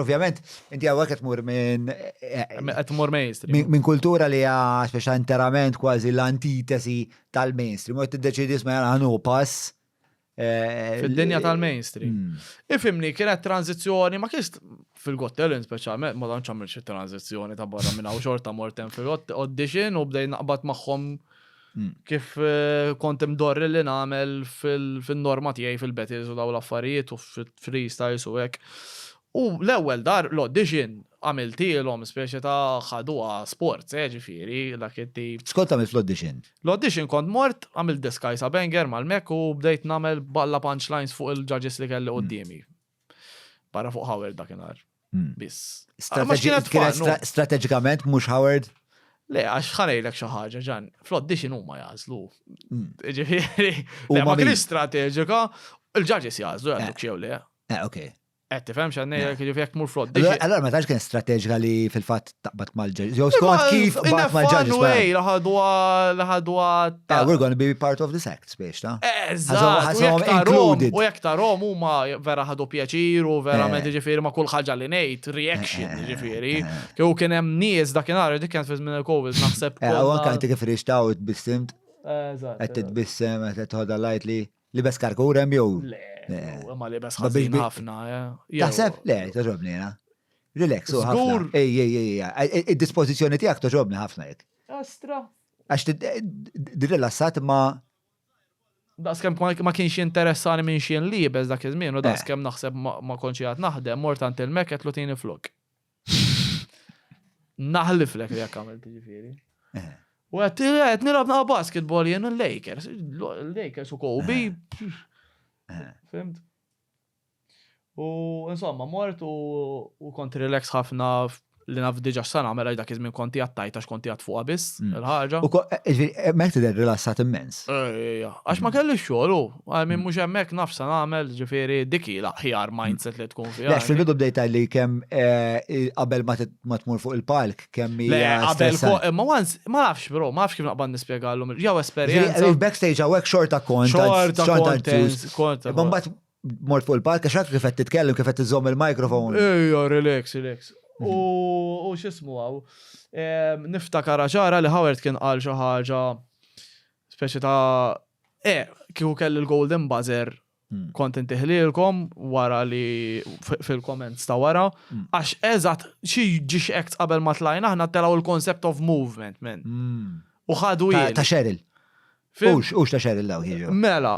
Ovvjament, inti għawek qed tmur minn. Qed tmur mainstream. Minn kultura li hija speċa interament kważi l-antitesi tal-mainstream. U tiddeċidi sma għanu pass. Eh, Fid-dinja tal-mainstream. Hmm. Ifimni, kienet tranzizjoni, ma kienx fil-Got Talent speċjalment, ma tantx għamilx tranzizjoni ta' barra minn hawn xorta mortem fil-audition u bdej naqbad magħhom kif kont imdorri li nagħmel fin-norma tiegħi fil-Betels u dawn l-affarijiet u fil-freestyles u hekk. U l-ewwel dar l-audition għamiltilhom speċi ta' ħaduha sport, eh, ġifieri, dak it-tip. X'kont tagħmel fl-audition? L-audition kont mort, għamilt diskajsa banger mal-mekk u bdejt nagħmel balla punchlines fuq il-judges li kelli quddiemi. Barra fuq Howard dakinhar. Hmm. Biss. Strateġikament mhux Howard? Le, għax ħanejlek xi ħaġa ġan, flott di x'in huma jażlu. Hmm. Ġifieri, ma kien strateġika, il-ġaġis jażlu eh. jagħmlu xew le. Eh, ok. Qed tifhem x'għandna eh. jiġifieri jekk mur flott. Allora ma tax kien strateġika li fil-fatt taqbad mal-ġaġ. Jew skont kif taqbad mal-ġaġ. Ej, laħadwa, laħadwa. Ta' we're gonna be part of this act, biex ta' Eżatt, included. U jek ta' rom huma vera ħadu pjaċir u vera me ġifieri ma' kull ħaġa li ngħid, reaction ġifieri. Kew kien hemm nies dakinhar dik kienet fi żmien il-COVID naħseb. U anke kif rixtaw it-bissimt. Eżatt. Qed titbissem, qed tħodha lightly. Libes karkurem jew. Le, ma libes ħażin ħafna. Eh. Taħseb? Le, toġobni jena. Relax, u ħafna. Ej, ej, ej, ej, id-dispozizjoni tijak toġobni ħafna jek. Astra. Għax eh, d-rilassat ma. Daskem ma kienx interessani minn xien libes dak iż-żmien, u eh. daskem naħseb ma konċi għat naħdem, mortant il-meket lu tini flok. Naħliflek li jekk għamilt ġifieri. Eh. U għet, għet nilab naqa basketball jen l-Lakers, l-Lakers u Kobe. Eh. Eh. Fimt? U insomma, mort u kont relax ħafna li naf diġa s-sana mela dak iż konti għattajt għax konti għat fuqa biss, mm. il-ħagġa. U mek tidher rilassat immens. Ejja, għax ma mm. kelli xogħol Għal minn mhux hemmhekk naf se nagħmel, ġifieri dik hi l-aħjar mindset li tkun fiha. Għax fil-bidu bdejt li kemm eh, qabel ma tmur fuq il-palk kemm hija. Qabel fuq, ma once, ma nafx bro, ma nafx kif naqbad nispjegallhom. Jew esperjenza. Il-backstage hawnhekk xorta kont. Xorta kont. Kont. Mbagħad mort fuq il-palk għax hekk kif qed titkellem kif qed iżomm il-mikrofon. Ejja, relax, relax. Mhm. U x'ismu hawn. Niftakar ċara li Howard kien qal xi ħaġa speċi ta' e, kieku kelli l-golden buzzer hmm. kont intiħlilkom wara li fil-comments ta' wara, hmm. għax eżat xi ġiex acts qabel ma tlajna aħna telaw il-concept of movement, men. Hmm. U ħadu Ta' Cheryl. Ux, ux ta' Cheryl law jiġu. Mela,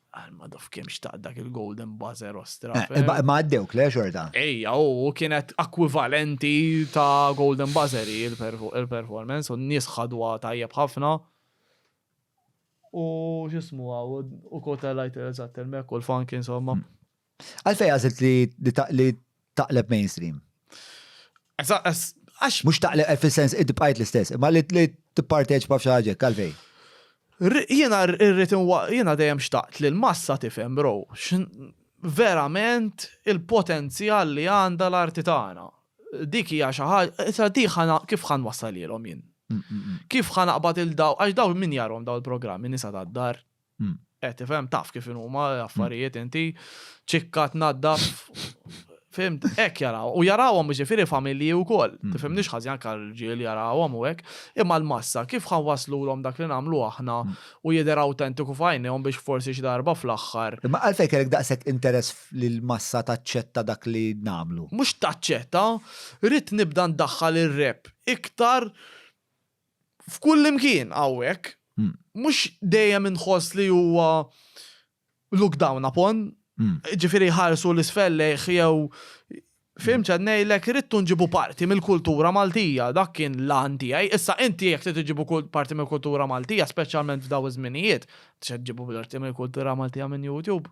Għalma dof kem xtaq dak il-golden buzzer ostra. Eh, eh, ma għaddewk le xorta. Ejja, u kienet akwivalenti ta' golden buzzer il-performance u n-nies ħadwa tajjeb ħafna. U xismu għaw, u kota lajt eżatt il-mek u l-funk insomma. Hmm. Għalfejn għażilt li taqleb mainstream? Għax. Mhux taqleb eh, fis-sens id bqajt l-istess, imma li tipparteċipa f'xi ħaġa għalfejn. Jiena rrid jiena dejjem xtaqt li l-massa tifhem bro, verament il-potenzjal li għandha l-arti tagħna. Dik hija xi ħaġa, diħa kif ħan wassalilhom jien. Mm, mm, mm. Kif ħan aqbad il-daw, għax daw min jarhom daw il-programmi nisa tad-dar, Eh, tifhem taf kif huma affarijiet inti ċikka tnaddaf Fimt, ek jaraw. U jarawhom ġifiri familji u koll. Mm. Tifhem nix ħazjan kal ġil jarawhom u ek. Imma l-massa, kif ħan waslu l dak li namlu aħna mm. u jider autentiku fajnijom biex forsi xdarba fl-axħar. Imma għalfej kellek daqsek interess li l-massa taċċetta dak li namlu. Mux taċċetta, rrit nibda ndaħħal il-rep iktar f'kull imkien hawnhekk, mhux dejjem inħoss li huwa looked down upon, jiġifieri jħarsu 'l isfel lejh jew fhimt x'qed ngħidlek, irridu nġibu parti mill-kultura Maltija, dak kien l-għan tiegħi. Issa inti jekk trid iġġibu parti mill-kultura Maltija, speċjalment f'dawn iż-żminijiet, se ġġibu parti mill-kultura Maltija minn YouTube?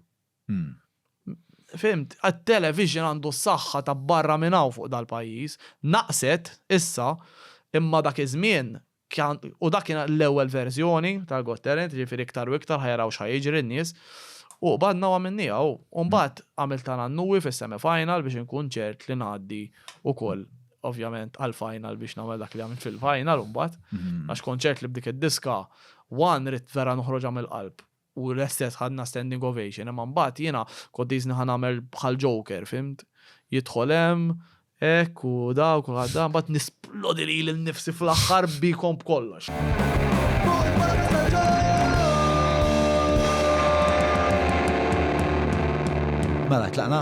Fhimt? It-television għandu s-saħħa ta' barra minn hawn fuq dal-pajjiż. Naqset, issa, imma dak iż-żmien, kan, u dak kien l-ewwel verżjoni tal-Got Talent, jiġifieri iktar u iktar ħa jaraw x'ħa jiġri n-nies. U qbadna u għamilniha u, u mbagħad għamilt għal Annui fis-semi final biex inkun ċert li ngħaddi ukoll, ovvjament, għall-final biex nagħmel dak li għamilt fil-final mbagħad. Għax kont ċert li b'dik id-diska, one, ridt vera noħroġha mill-qalb. u l-istess ħadna standing ovation imma mbagħad jiena kont qisni ħa nagħmel bħal joker fhimt? Jidħol hemm hekk u da u kulħadd da mbagħad nisplodi lili nnifsi fl-aħħar bikom b'kollox. Mela tlaqna.